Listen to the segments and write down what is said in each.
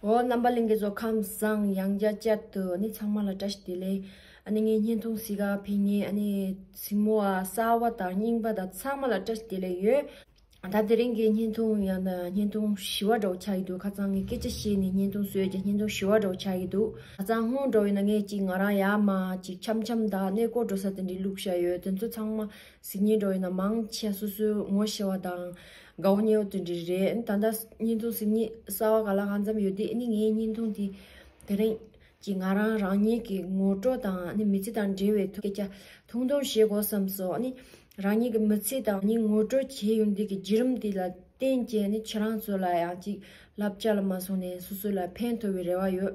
འོ་རྣམ་པ་གླིང་གི་བཟོ་ཁམས་བཟང་ཡང་རྒྱ་བསྐྱེད་དུ་ཨ་ནི་ཚང་མ་ལ་བཀྲ་ཤིས་བདེ་ལེགས་ཨ་ནི་ངའི་བརྙན་ཐུང་སི་ག་ཕི་ཉེ་ཨ་ནི་སྲིང་མོ་ཨ་གསར་བ་དང་རྙིང་པ་དང་ཚང་མ་ལ་བཀྲ་ཤིས་བདེ་ལེགས་ཡོད་ད་དེ་རིང་གི་བརྙན་ཐུང་ཡང་བརྙན་ཐུང་བཞི་བ་འགྲོ་ཆགས་ཀྱི་འདུག་ཁ་ཚང་གི་སྐད་ཆ་བཤད་ནས་བརྙན་ཐུང་བཟོས་རྗེས་བརྙན་ཐུང་བཞི་བ་འགྲོ་ཆགས་ཀྱི་འདུག་ད་ཚང་སྔོན་འགྲོ་ཡིན་ན་ངས་ཅིག་ང་རང་ཡར་མར་ཅིག་འཆམ་འཆམ་དང་གནས་སྐོར་འགྲོ་ས་དེ་འདྲའི་ལུགས་བཞག་ཡོད་དེ་ཚོ་ཚང་མ་གཟིགས་ཉིན་འགྲོ་ཡི་ན་མང་ཆེ་སོ་སོའི་ངོ་ཤེས་བ་དང་དགའ་བོ་ཉེ་བོ་དེ་འདྲ་རེད་ད་ལྟ་བརྙན་ཐུང་གཟིགས་ཉིན་གསར་བ་ག་ལ་གང་འཛོམས་ཡོད་དེ་ནི་ངའི་བརྙན་ཐུང་དེ་དེ་རིང་གི་ང་རང་རང་ཉིད་ཀྱི་ངོ་སྤྲོད་དང་ནི་མི་ཚེ་དང་འབྲེལ་བའི་ཐུགས་སྐྱ་ཐུང་ཐུང་བཞེས་དགོས་བསམ་སོ་ནི་རང་ཉིད་ཀྱི་མི་ཚེ་དང་ནི་ངོ་སྤྲོད་བྱས་ཡོང་དུས་ཀྱི་བརྒྱུད་རིམ་དེ་ལ་བརྟེན་བཅས་ནི་ཁྱེད་རང་ཚོ་ལ་ཡང་ཅིག་ལབ་ཅག་ལ་མ་སོང་ནས་སོ་སོ་ལ་ཕན་ཐོགས་བའི་རེ་བ་ཡོད་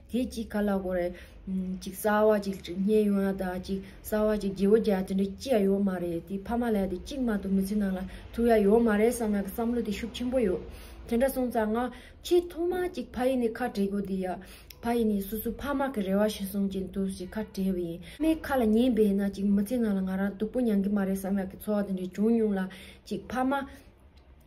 དེ་ཅིག་ག་ལ་གོ་རེད། ཅིག་རྩ་བ་ཅིག་བསྙེན་ཡོང་ན་དང་ཅིག་རྩ་བ་ཅིག་རྗེ་བོ་བརྒྱ་དེ་འདྲ་ཅི་ཡང་ཡོད་མ་རེད་དེ་ཕ་མ་ལ་དེ་གཅིག་མ་གཏོགས་མི་ཚེ་ནང་ལ་ཐུག་ཡ་ཡོད་མ་རེད་བསམ་ན་བསམ་བློ་དེ་ཤུགས་ཆེན་པོ་ཡོད། དེ་འདྲ་སོང་ཙང་ང་ཆེས་ཐོག་མ་ཅིག་ཕ་ཡིས་ནི་ཁ་བྲལ་དགོས་དེ་ཡ། ཕ་ཡིས་ནི་སོ་སོའི་ཕ་མ་གི་རེ་བ་ཤེས་སོང་ཅིག་འདུག་ཅིག་ཁ་བྲལ་བ་ཡིན། ཕ་མའི་ཁ་ལ་ཉན་པས་ན་ཅིག་མི་ཚེ་ནང་ལ་ང་རང་སྡུག་པོ་མྱང་གི་མ་རེད་བསམ་ཡ་གི་ཚོར་བ་དེ་འདྲ་བྱུང་མྱོང་ལ་ཅིག་ཕ་མ་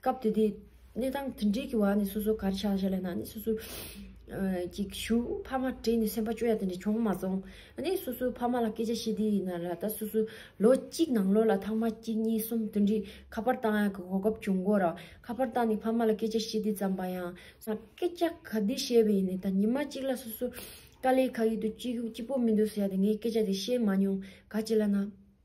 སྐབས་དེ་དུས་གནས་སྟངས་དེ་འདྲའི་གི་བ་ནི་སོ་སོ་གར་ཆགས་བྱས་ལ་ན་ནི་སོ་སོ་ཀྱི་ཞུ་ཕ་མ་དྲིས་ནས་སེམས་པ་སྐྱོ་ཡ་དེ་འདྲ་བྱུང་མ་སོང་ཨ་ནི་སོ་སོའི་ཕ་མ་ལ་སྐད་ཆ་བཤད་དུས་ཡིན་ན་ར་ད་སོ་སོའི་ལོ་གཅིག་ནང་ལོ་ལ་ཐང་མ་གཅིག་གཉིས་གསུམ་དེ་འདྲའི་ཁ་པར་བཏང་ཡ་གི་གོ་སྐབས་བྱུང་དགོས་ར་ཁ་པར་བཏང་ནས་ཕ་མ་ལ་སྐད་ཆ་བཤད་དུས་ཙམ་པ་ཡང། སྐད་ཆ་ག་དུས་བཤད་པ་ཡིན་ནི་ད་ཉི་མ་གཅིག་ལ་སོ་སོ་དཀའ་ལས་ཁག་ཡོད་དུས་སྐྱིད་པོ་མི་འདུག་ཟེར་ཡ་དེ་ངས་སྐད་ཆ་དེ་བཤད་མ་མྱོང་ག་ཅི་ལ་ན།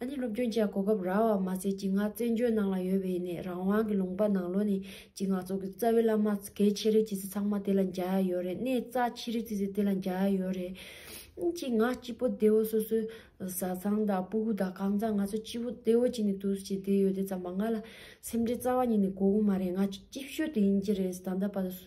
ཨ་ནེ་སློབ་དཔོན་བཅས་གོ་སྐབས་རག་བར་མ་ཟད་སྐྱིད་སྔགས་བཙན་བྱོལ་ནང་ལ་ཡོད་པའི་ནས་རང་དབང་གི་ལུང་པ་ནང་ལོ་ནས་སྐྱིད་སྔགས་ཙོག་གི་རྩ་བའི་བླ་མ་གལ་ཆེ་རེད་ཅི་ཟེར་ཚང་མ་དེ་ལ་འཇའ་ཡག་ཡོད་རེད་གནས་རྩ་ཆེ་རེད་ཅི་ཟེར་དེ་ལ་འཇའ་ཡག་ཡོད་རེད། སྐྱིད་སྔགས་སྐྱིད་པོ་སྡེ་བོ་སོ་སོའི་བཟའ་ཚང་དང་སྤུ་གུ་དང་གང་ཚང་ང་ཚོ་སྐྱིད་པོ་སྡེ་བོ་གཅིག་ནས་དུས་སུ་བྱས་བསྡད་ཡོད་དེ་ཙམ་པ་ང་ལ་སེམས་ཁྲལ་རྩ་བ་ཉིད་ནས་གོ་གི་མ་རེད་ང་ཅིག་སྐྱིད་ཤོད་དུ་ཡིན་གྱི་རེད་ཟེར་ད་ལྟ་བར་དུ་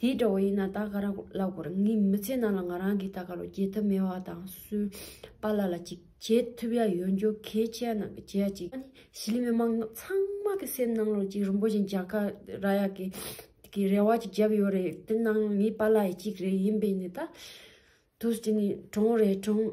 དེ་འདྲ་བ་ཡིན་ན་ད་ག་ར་ལ་གོར་ངའི་མི་ཚེ་ནང་ལ་ང་རང་གིས་ད་ག་ལོ་བརྗེད་ཐབས་མེད་བ་དང་སུའི་པ་ལ་ལ་ཅིག་བྱེད་ཐུབ་ཡ་ཡོད་འཇོ་གའི་ཆའི་ནང་གི་བྱེད་ཡ་ཅིག་ཨ་ནི་ཞི་ལི་མི་མང་ཚང་མ་གི་སེམས་ནང་ལོ་ཅིག་རིན་པོ་ཆེ་འཇག་ག་ར་ཡ་གི་གི་རེ་བ་ཅིག་བརྒྱབ་ཡོད་རེད་དེ་ནང་ངའི་པ་ལ་ཡ་ཅིག་རེད་ཡིན་པས་ནི་ད། དུས་དེ་ནི་གྲོང་རེད་གྲོང།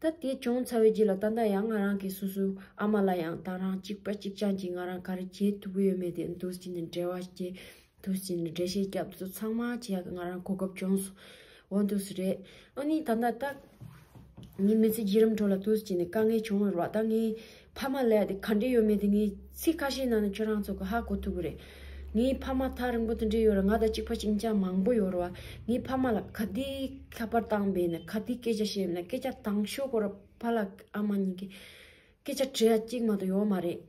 ད་དེ་བྱུང་ཚར་བའི་རྗེས་ལ་ད་ལྟ་ཡང་ང་རང་གིས་སོ་སོའི་ཨ་མ་ལ་ཡང་དང་རང་གཅིག་པ་གཅིག་རྐྱང་གྱིས་ང་རང་ག་རེ་བྱེད་ཐུབ་ཀྱི་ཡོད་མེད་དེ་མདུན་བསྐྱེད་ནས་འབྲེལ་བ་བྱེད་དུ་ཕྱིན་ནས་འགྲེལ་བཤད་རྒྱབ་བཟོ་ཚང་མ་བྱས་ཡག་གི་ང་རང་གོ་སྐབས་བྱུང་སོང་འོན་ཏུ་སུ་རེད་ཨོ་ནི་ད་ལྟ་ད་ངའི་མི་ཚེ་བརྒྱུད་རིམ་ཁྲོད་ལ་མདུན་བསྐྱེད་ནས་དཀའ་ངལ་བྱུང་བའི་རོགས་ཟླ་ངའི་ཕ་མ་ལས་དེ་ག་འབྲེལ་ཡོད་མེད་དེ་ངས་ཚིག་ཁ་ཤས་ནང་ནས་ཁྱོད་རང་ཚོ་གི་ཧ་གོ་ཐུབ་གི་རེད། ངའི་ཕ་མ་ཐག་རིང་པོ་དང་འབྲེལ་ཡོད་རེད་ང་དང་གཅིག་པ་གཅིག་མཚན་མང་པོ་ཡོད་རེད་བ། ངའི་ཕ་མ་ལ་ག་དུས་ཁ་པར་བཏང་བས་ནས་ག་དུས་སྐད་ཆ་བཤད་བས་ནས་སྐད་ཆ་དང་ཤོས་ཁོ་ར་ཕ་ལགས་ཨ་མ་གཉིས་ཀྱི་སྐད་ཆ་བྲིས་ཡ་གཅིག་མ་གཏོགས་ཡོད་མ་རེད།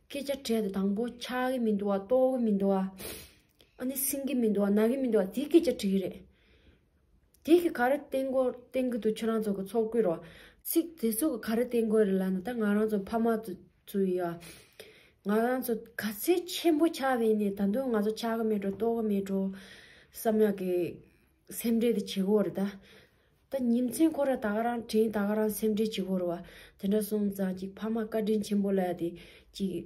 སྐད་ཆ་བྲིས་དེ་དང་པོ་ཆགས་གི་མི་འདུག་བ་ལྟོགས་གི་མི་འདུག་བ། ཨ་ནི་སྲིང་གི་མི་འདུག་བ་ན་གི་མི་འདུག་བ་དེ་སྐད་ཆ་བྲིས་རེད། དེ་གི་ག་རེ་བསྟན་གོ་བསྟན་གི་འདུག་ཁྱེད་རང་ཚོ་གི་ཚོགས་སྐུད་རོ། ཚིག་དེ་ཚོ་ག་རེ་བསྟན་དགོས་རེད་ལབ་ན་ད་ང་རང་ཚོ་ཕ་མ་ཚོ་ཡི་ཨ། ང་རང་ཚོ་ག་ཚད་ཆེན་པོ་ཆགས་བས་ནས་ད་དུང་ང་ཚོ་ཆགས་གི་མེད་འགྲོ་ལྟོ་གི་མེད་འགྲོ། བསམ་ཡག་གི་སེམས་ཁྲལ་དེ་བྱེད་གོ་རེད་ད། ད་ཉིན་མཚན་ཁོ་ར་ད་ག་རང་དྲན་ད་ག་རང་སེམས་ཁྲལ་བྱེད་གོ་རེད་བ། དེ་འདྲ་སོང་ཙང་ཅིག་ཕ་མ་བཀའ་དྲིན་ཆེན་པོ་ལ་དེ་ཅིག།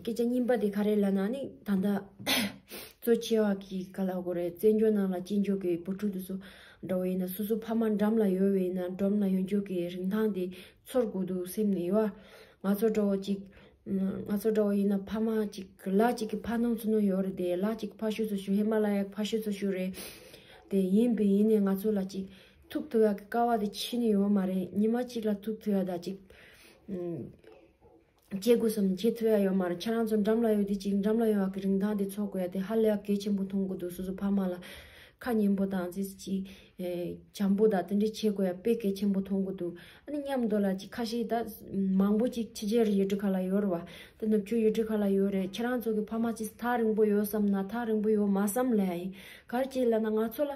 སྐད་ཆ་རྙིང་པ་དེ་ག་རེ་ལབ་ན་ནི་ད་ལྟ་གཙོ་ཆེ་བ་གི་ག་ལ་དགོས་རེད་བཙན་བྱོལ་ནང་ལ་དཔྱིད་འཇོག་གི་བུ་ཕྲུག་དེ་ཚོ་འདྲ་བོ་ཡིན་ན་སོ་སོ་ཕ་མ་འགྲམ་ལ་ཡོད་བའི་ན་འགྲམ་ལ་ཡོང་འཇོག་གི་རིན་ཐང་དེ་ཚོར་དགོས་འདུག་སེམས་ནས་ཡོད་ང་ཚོ་འདྲ་བོ་ཅིག་ང་ཚོ་འདྲ་བོ་ཡིན་ན་ཕ་མ་ཅིག་ལག་ཅིག་གི་ཕ་སྣང་ཚུ་ནོ་ཡོད་རེད་དེ་ལག་ཅིག་གི་ཕ་ཤུལ་ཚུ་ཤུལ་ཧི་མ་ལ་ཡ་གི་ཕ་ཤུལ་ཚུ་ཤུལ་རེད་དེ་ཡིན་བས་ཡིན་ནས་ང་ཚོ་ལ་ཅིག་ཐུག་ཐུ་ཡ་གི་ཀ་བ་དེ་ཕྱིན་ནི་ཡོད་མ་རེད་ཉི་མ་ཅིག་ལ་ཐུག་ཐུ་ཡ་ད་ཅིག་སྐྱེ་དགུ་སུམ་ཁྱི་ཐུ་ཡ་ཡོད་མ་རེད་ཁྱེད་རང་ཚོ་འགྲམ་ལ་ཡོད་དུས་གཅིག་འགྲམ་ལ་ཡོང་བ་གི་རིན་ཐང་དེ་འཚོ་དགོས་ཡ་དེ་ཧ་ལས་གལ་ཆེན་པོ་མཐོང་གི་འདུག་སོ་སོ་ཕ་མ་ལ་ཁ་སྙན་པོ་དང་ཅི་ཅི་བྱམས་པོ་དང་དེ་འདྲ་བྱེད་དགོས་ཡ་དཔེ་གལ་ཆེན་པོ་མཐོང་གི་འདུག་ཨ་ནི་མཉམ་འདོད་ལ་ཅིག་ཁ་ཤིག་ད་མང་པོ་ཅིག་ཕྱི་རྒྱལ་རི་ཡོད་གྲི་ཁ་ལ་ཡོད་རེད་བ་དེ་ནུབ་ཕྱོགས་ཡོད་གྲི་ཁ་ལ་ཡོད་རེད་ཁྱེད་རང་ཚོ་གི་ཕ་མ་ཅིག་ཐག་རིང་པོ་ཡོད་བསམ་ན་ཐག་རིང་པོ་ཡོད་མ་བསམ་ལ་ཡ་ཡིན་གར་སྐྱེས་ལ་ན་ང་ཚོ་ལ།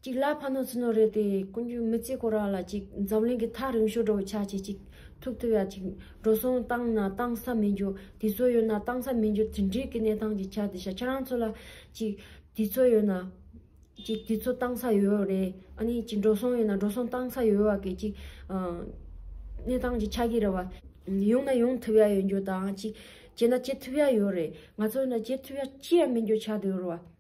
གཅིག་ལ་ཕ་ནོར་ཚུལ་ནོར་རེད་དེ་ཀུན་སྤྱོད་མི་གཅིག་ཁོ་རང་ལ་གཅིག་འཛམ་གླིང་གི་ཐག་རིང་ཤོས་འགྲོ་བའི་ཆ་བྱེད་ཅིག་ཐུག་ཐུབ་ཡ་ཅིག་འགྲོ་སོང་བཏང་ན་བཏང་ས་མི་འགྱུར་དེ་ཚོ་ཡོད་ན་བཏང་ས་མི་འགྱུར་དེ་འདྲིའི་གི་གནས་སྟངས་ཀྱི་ཆ་དེ་ཤ་ཁྱེད་རང་ཚོ་ལ་གཅིག་དེ་ཚོ་ཡོད་ན་གཅིག་དེ་ཚོ་བཏང་ས་ཡོད་རེད་ཨ་ནི་གཅིག་འགྲོ་སོང་ཡོད་ན་འགྲོ་སོང་བཏང་ས་ཡོད་བ་གི་གཅིག་གནས་སྟངས་ཀྱི་ཆ་གི་རེད་བ། ཡོང་ན་ཡོང་ཐུབ་ཡ་ཡོད་འགྱུར་དང་གཅིག་བྱེད་ན་བྱེད་ཐུབ་ཡ་ཡོད་རེད་ང་ཚོ་ཡོད་ན་བྱེད་ཐུབ་ཡ་ཅི་ཡ་མི་འགྱུར་ཆ་དེ་རེད་བ།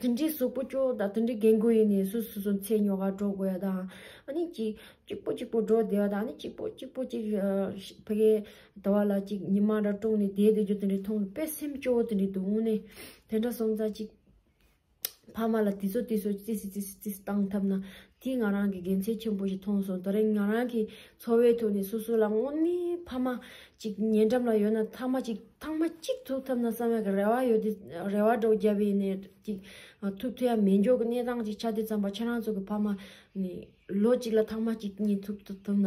དེ་འདྲའི་གཟུགས་པོ་སྐྱོ་དང་དེ་འདྲའི་རྒན་རྒོན་ཡིན་ནའི་སུ་སུ་སུ་ཚེ་ཉོ་དགའ་འགྲོ་དགོས་ཡ་དང་ཨ་ནི་གཅིག་གཅིག་པོ་གཅིག་པོ་འགྲོ་བསྡད་ཡ་དང་ཨ་ནི་གཅིག་པོ་གཅིག་པོ་གཅིག་ཕ་གའི་ཟླ་བ་ལ་གཅིག་ཉི་མ་འདྲ་དཀྲུགས་ནས་བསྡད་བསྡད་རྒྱུ་དེ་འདྲའི་མཐོང་དུ་དཔེ་སེམས་སྐྱོ་བོ་དེ་འདྲའི་འདུག་དངོས་གནས་དེ་འདྲ་སོང་ཙང་གཅིག་ཕ་མ་ལ་དེ་ཚོ་དེ་ཚོ་ཅི་སྲིད་ཅི་སྲིད་ཅི་སྲིད་བཏང་ཐབས་ན་དེས་ང་རང་གི་དགེ་མཚན་ཆེན་པོ་ཞིག་མཐོང་སོང་ད་རེས་ང་རང་གི་འཚོ་བའི་ཐོག་ནས་སོ་སོ་ལ་དངོས་གནས་ཕ་མ་གཅིག་ཉེ་འགྲམ་ལ་ཡོད་ན་ཐང་མ་གཅིག་ཐང་མ་གཅིག་ཐུག་ཐབས་ན་བསམ་ཡག་གི་རེ་བ་ཡོད་དེ་རེ་བ་སྒྲོག་རྒྱབ་པའི་ནས་གཅིག་ཐུག་ཐུ་ཡ་མེད་མགྱོགས་ཀྱི་གནས་སྟངས་གཅིག་ཆ་དེ་ཙམ་པ་ཁྱེད་རང་ཚོ་གི་ཕ་མ་ནས་ལོ་གཅིག་ལ་ཐང་མ་གཅིག་གཉིས་ཐུག་ཐུབ་ཐུབ་ན་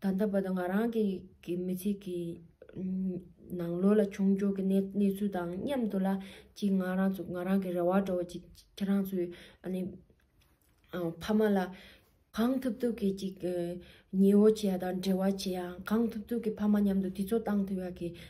ད་ལྟ་བར་དུ་ང་རང་གི་མི་ཚེ་གི་ནང་ལོ་ལ་བྱུང་འཇུག་གི་གནས་ཚུལ་དང་མཉམ་དུ་ལ་གཅིག་ང་རང་ཚོ་ང་རང་གི་རེ་བ་འགྲོ་བ་ཅིག་ཁྱེད་རང་ཚོའི་ཕ་མ་ལ་གང་ཐུབ་ཐུབ་ཀྱི་ཅིག་ཉེ་བོ་བྱེད་ཡ་དང་འབྲེལ་བ་བྱེད་ཡ་གང་ཐུབ་ཐུབ་ཀྱི་ཕ་མ་མཉམ་དུ་དུས་ཚོད་བཏང་ཐུབ་ཡ་གི